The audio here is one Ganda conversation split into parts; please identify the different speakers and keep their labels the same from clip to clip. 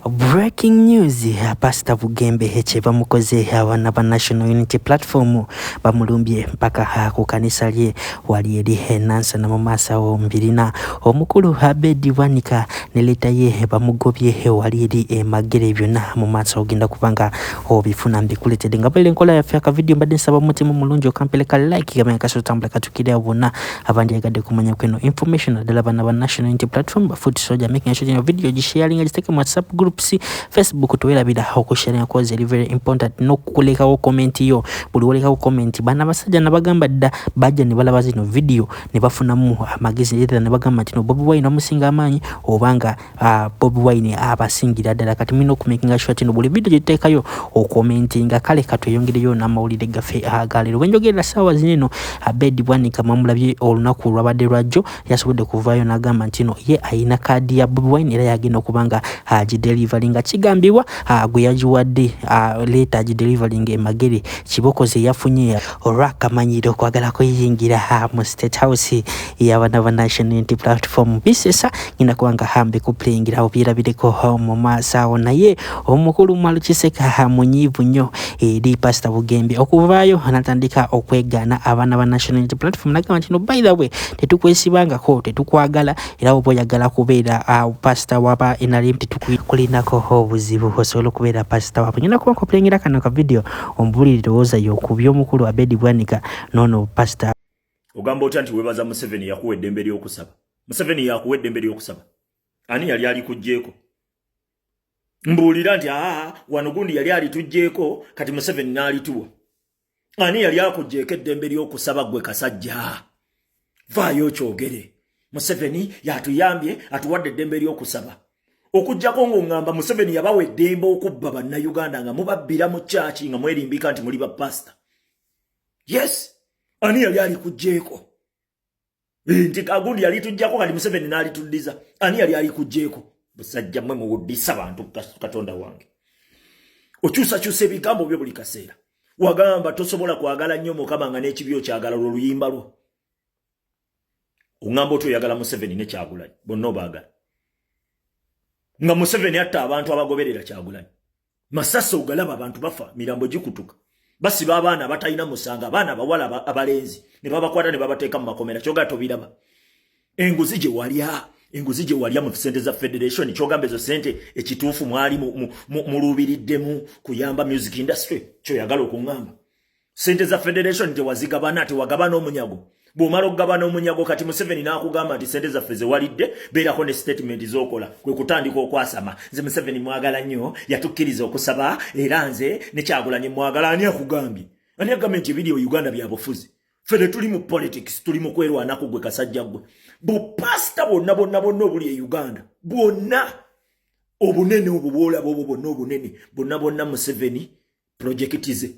Speaker 1: Breaking news pasita Bugembe kye bamukoze abaana ba National Unity Platform bamulumbye mpaka ku kanisa lye wali eri enansana mu maaso awo mbirina omukulu Abedi Bwanika ne leta ye bamugobye wali eri emagere byonna mu maaso ogenda kubanga obifuna mbikuletedde nga bwele enkola yaffe akavidiyo mbadde nsaba omutima omulungi okampeleka like gamenya kasotambula katukirira bonna abandyagadde kumanya kweno information naddala bana ba national unity platform ba foot soja making sure ino video gisharinga giteeke mu whatsapp groups facebook twerabira okusharinga kozi eri very important nokulekawo comment yo buli wolekawo comment bana basajja nabagamba dda bajja ne balaba zino video ne bafunamu amagezi era ne bagamba nti no bobi wine omusinga amaanyi obanga uh, bobi wine abasingira ddala kati mulina okumakinga sure tino buli vidiyo gyetuteekayo okomentinga kale katweyongereyo n'amawulire gaffe agaleero wenjogerera saawa zineno abedi uh, bwanika mwamulabye olunaku olwabadde lwajjo yasobodde kuvaayo n'agamba nti no ye ayina kaadi ya bobi wine era yagenda okuba nga agidelivali uh, nga kigambibwa uh, gwe yagiwadde uh, leeta agidelivali nga emagere kiboko ze yafunye olwakamanyiro okwagala kuyingira uh, mu state house ey'abaana ba National Unity Platform bisesa ngenda kuba nga hambe kupulengerawo byerabireko mu maaso awo naye omukulu Mwalu Kiseka munyiivu nnyo eri Pasita Bugembe okuvaayo anatandika okwegaana abaana ba National Unity Platform nagamba nti no by the way tetukwesibangako tetukwagala era oba oyagala kubeera uh, pasita waba NRM tetukulinako obuzibu osobola okubeera pasita wabwe ngenda kuba nkupulengera kano ka video ombulire lowooza yo ku by'omukulu Abedi Bwanika noono pasita ogamba otya nti
Speaker 2: webaza museveni yakuwa eddembe ly'okusaba museveni yakuwa eddembe ly'okusaba ani yali alikugjeeko mbuulira nti aa wano gundi yali alitugjeeko kati museveni n'alituwa ani yali akugjeeko eddembe ly'okusaba gwe kasajja vaayo okyogere museveni yatuyambye atuwadde eddembe ly'okusaba okujjako ng'oŋŋamba museveni yabawa eddembe okubba bannayuganda nga mubabbira mu kyaki nga mwerimbika nti muli bapasita yes ani yali alikujeeko eh, nti agundi yali tujjako kati museveni naalituddiza ani yali alikujeeko busajja mwe muwuddisa bantu katonda wange okyusakyusa ebigambo byo buli kaseera wagamba tosobola kwagala nnyo mukama nga n'ekibi okyagala olwo luyimba lwo ungamba otu oyagala museveni ne kyagulanyi bonna obaagala nga museveni atta abantu abagoberera kyagulanyi masasi ogalaba abantu bafa mirambo gikutuka basiba abaana abatalina musango abaana abawala abalenzi ne babakwata ne babateeka mu makomera kyogaa tobiraba enguzi gye walya enguzi gye walya mu sente za federation kyogamba ezo sente ekituufu mwali muluubiriddemu kuyamba music industry kyoyagala okuŋŋamba sente za federation tewazigabana tewagabana omunyago bwomala okugabana omunyago kati museveni nakugamba nti sente zaffe zewalidde beerako ne statement zokola kwe kutandika okwasama nze museveni mwagala nnyo yatukkiriza okusaba era nze nekyagulanye mwagala ani akugambye ani agambye nti ebiri uganda byabufuzi fene tuli mu politics tuli mu kwerwanako gwe kasajja gwe bupasita bwonna bwonna bwonna obuli e uganda bwonna obunene obwo bwolaba obwo bwonna obunene bwonna bwonna museveni pulojekiti ze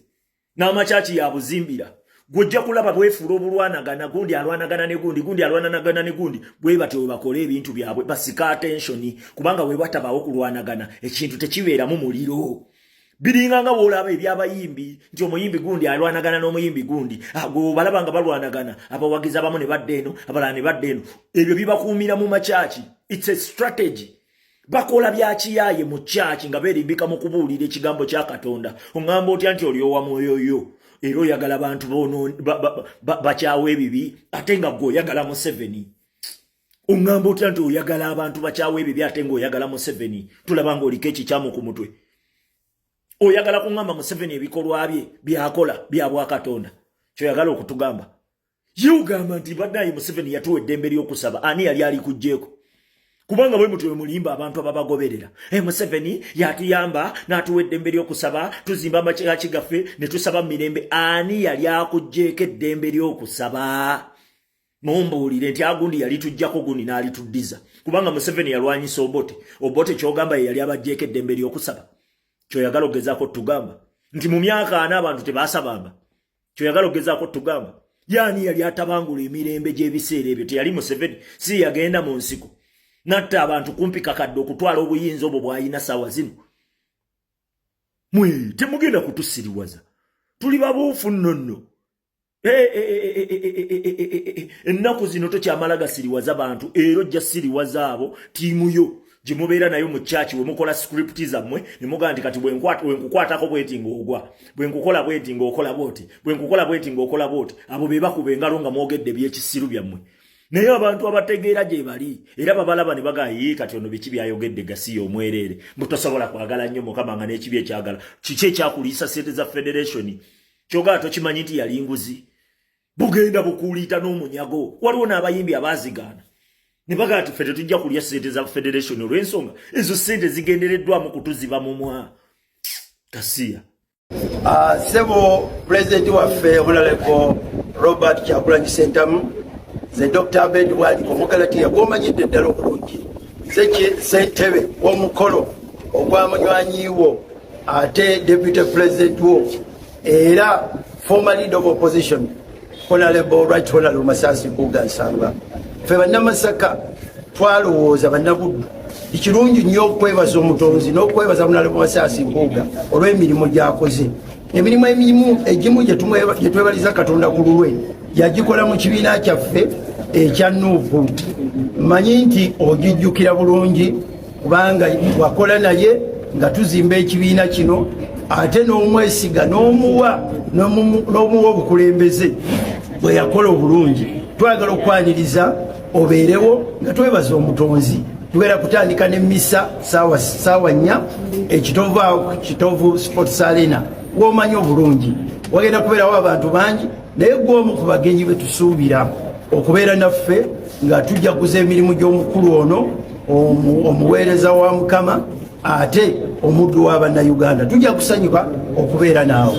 Speaker 2: n'amakyaki yabuzimbira gwojja kulaba bwefuula obulwanagana gundi alwanagana ne gundi gundi alwananagana ne gundi bwe batyo we bakole ebintu byabwe basika atensioni kubanga we batabawo kulwanagana ekintu tekibeeramu muliro biringa nga woolaba ebyabayimbi nti omuyimbi gundi alwanagana n'omuyimbi gundi agobalaba ah, nga balwanagana abawagizi abamu ne badda eno abalala ne badda eno ebyo bibakuumira mu makyaki its a strategy bakola byakiyaye mu kyaki nga berimbika mu kubuulira ekigambo kya katonda oŋamba otya nti oli owa mwoyo yo era oyagala bantu bakyawa ebibi ate nga gwe oyagala museveni oŋamba otya nti oyagala abantu bakyawa ebibi ate nga oyagala museveni tulaba nga oliko ekikyamu ku mutwe oyagala kuŋamba museveni ebikolwa bye byakola bya bwakatonda kyoyagala okutugamba ye ugamba nti banaye museveni yatuwa eddembe ly'okusaba ani yali ali kujjeeko kubanga bwe mutyo mulimba abantu ababagoberera e museveni yatuyamba n'atuwa eddembe ly'okusaba tuzimba amakiraki gaffe ne tusaba mu mirembe ani yali akugjeeko eddembe ly'okusaba mumbuulire nti agundi yali tujjako gundi n'alituddiza kubanga museveni yalwanyisa obote obote kyogamba ye yali abajjeeko eddembe ly'okusaba kyoyagala okugezaako tugamba nti mu myaka ana abantu tebasabamba kyoyagala okugezaako tugamba yaani yali atabangula emirembe gy'ebiseera ebyo teyali museveni si yagenda mu nsiko natta abantu kumpi kakadde okutwala obuyinza obwo bwalina saawa zino mwe temugenda kutusiriwaza tuli babuufu nnonno ennaku zino tokyamala gasiriwaza bantu era ojja siriwaza abo tiimu yo gyemubeera nayo mu church wemukola script zammwe nemugaa nti kati bwenkukwatako bweti ngaogwa bwenkukola bweti ngaokola bwoti bwenkukola bweti ngaokola bwoti abo bebakuba engalo nga mwogedde ebyekisiru byammwe naye abantu abategeera gye bali era babalaba ne bagaa yii kati ono biki byayogedde gasiya omwereere mbu tosobola kwagala nnyo mukama nga n'ekibi ekyagala kiki ekyakuliisa sente za federationi kyogaa tokimanyi nti yali nguzi bugenda bukuuliita n'omunyago waliwo n'abayimbi abaazigaana ne bagala ti ffe tetujja kulya ssente za federation olw'ensonga ezo ssente zigendereddwamu kutuziba mumwa kasiya ah,
Speaker 3: ssebo pulezidenti waffe omulaleko robert kyagulanyi sentamu ze dr abed wali omugalatiya gwomanyidde eddala obulungi ze sentebe w'omukolo ogwamunywanyiiwo ate deputy pulezidenti wo era former leader of opposition honorable right honorable masasi kuga nsamba fe bannamasaka twalowooza bannabuddu ekirungi nnyo okwebaza omutonzi n'okwebaza honorable masasi kuga olw'emirimu gyakoze emirimu emirimu egimu gyetwebaliza katonda ku lulwe yagikola mu kibiina kyaffe ekya nuupu manyi nti ogijjukira bulungi kubanga wakola naye nga tuzimba ekibiina kino ate n'omwesiga n'omuwa n'omuwa obukulembeze bwe yakola obulungi twagala okwaniriza obeerewo nga twebaza omutonzi tugenda kutandika ne misa saawa nnya ekitovu awo kitovu sports arena womanyi obulungi wagenda kubeerawo abantu bangi naye gw'omu ku bagenyi be tusuubira okubeera naffe nga tujaguza emirimu gy'omukulu ono omuweereza wa mukama ate omuddu wa bannayuganda tujja kusanyuka okubeera naawe